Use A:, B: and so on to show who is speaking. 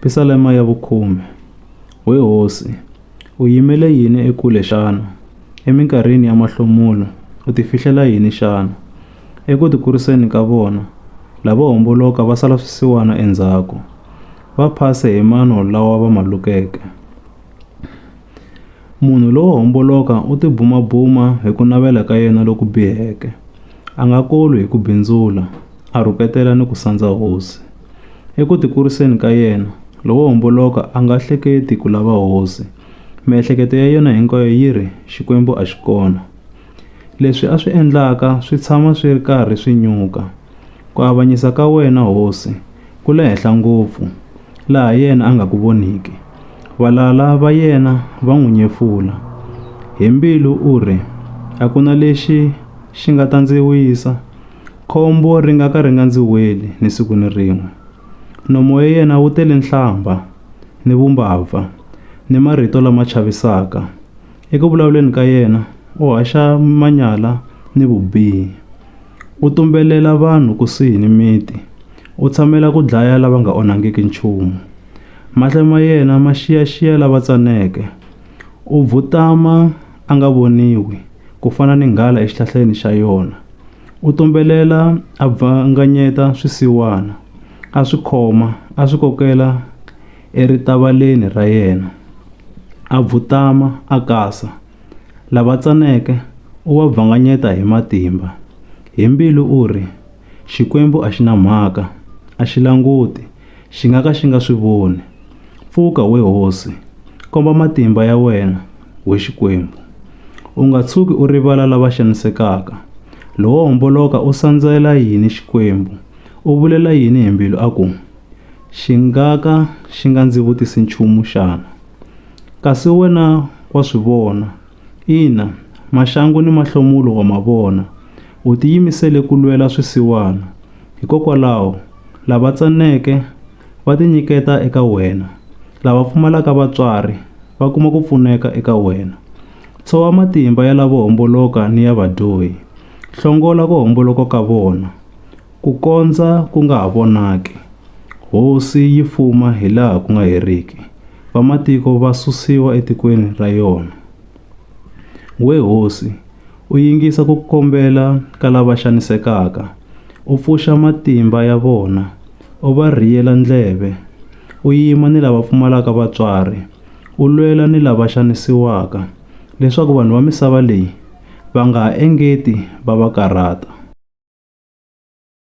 A: Pisalema ya vukhume. We hosi, u yimele yini ekule xana? Eminkarhini ya mahlomulo u ti fihlela yini xana? Eku ti kuriseni ka vona, lavo homboloka va sala swisiwana endzhaku, va phase hi mano lawa va ma lukeke. Munhu lowo homboloka u ti bumabuma hi ku navela ka yena loku biheke, a nga kolwi hi ku bindzula, a rhuketela ni ku sandza hosi. Eku tikuriseni ka yena, lowo homboloka a nga hleketi ku lava hosi. Miehleketo ya yena hinkwayo yi ri, Xikwembu a xi kona. Leswi a swi endlaka swi tshama swi ri karhi swi nyuka. Ku avanyisa ka wena, hosi, ku le henhla ngopfu, laha yena a nga ku voniki. Valala va yena va n'wi nyefula. Hi mbilu u ri, A ku na lexi xi nga ta ndzi wisa. Khombo ri nga ka ri nga ndzi weli ni siku ni rin'we. Nomo ya yena wu tele nhlambha, ni vumbabva, ni marito lama chavisaka. Eku vulavuleni ka yena u haxa manyala ni vubihi. U tumbelela vanhu kusuhi ni miti, u tshamela ku dlaya lava nga onhangiki nchumu. Mahlo ma yena ma xiyaxiya lava tsaneke, u . a nga voniwi, ku fana ni nghala exihlahleni xa yona. U tumbelela a bvanganyeta swisiwana, a swi khoma a swi kokela eritavaleni ra yena. A bvutama a kasa, lava tsaneke u va bvanganyeta hi matimba. Hi mbilu u ri, Xikwembu a xi na mhaka, a xi languti, xi nga ka xi nga swi voni. Pfuka, we hosi, komba matimba ya wena, we Xikwembu. U nga tshuki u rivala lava xanisekaka. Lowo homboloka u sandzela yini Xikwembu, u vulela yini hi mbilu a ku, Xi nga ka xi nga ndzi vutisi nchumu xana? Kasi wena wa swi vona, Ina, Maxangu ni Mahlomulo wa ma vona. U tiyimisele ku lwela swisiwana. Hikokwalaho, lava tsaneke va tinyiketa eka wena, lava pfumalaka vatswari va kuma ku pfuneka eka wena. Tshova matimba ya lavo homboloka ni ya vadyohi, hlongola ku homboloka ka vona. Ku kondza ku nga ha vonaki, hosi yi fuma hi laha ku nga heriki, vamatiko va susiwa etikweni ra yona. We hosi, u yingisa ku kombela ka lava xanisekaka, u pfuxa matimba ya vona, u va rhiyela ndleve, u yima ni lava pfumalaka vatswari, u lwela ni lava xanisiwaka, leswaku vanhu va misava leyi va nga ha engeti va va karhata.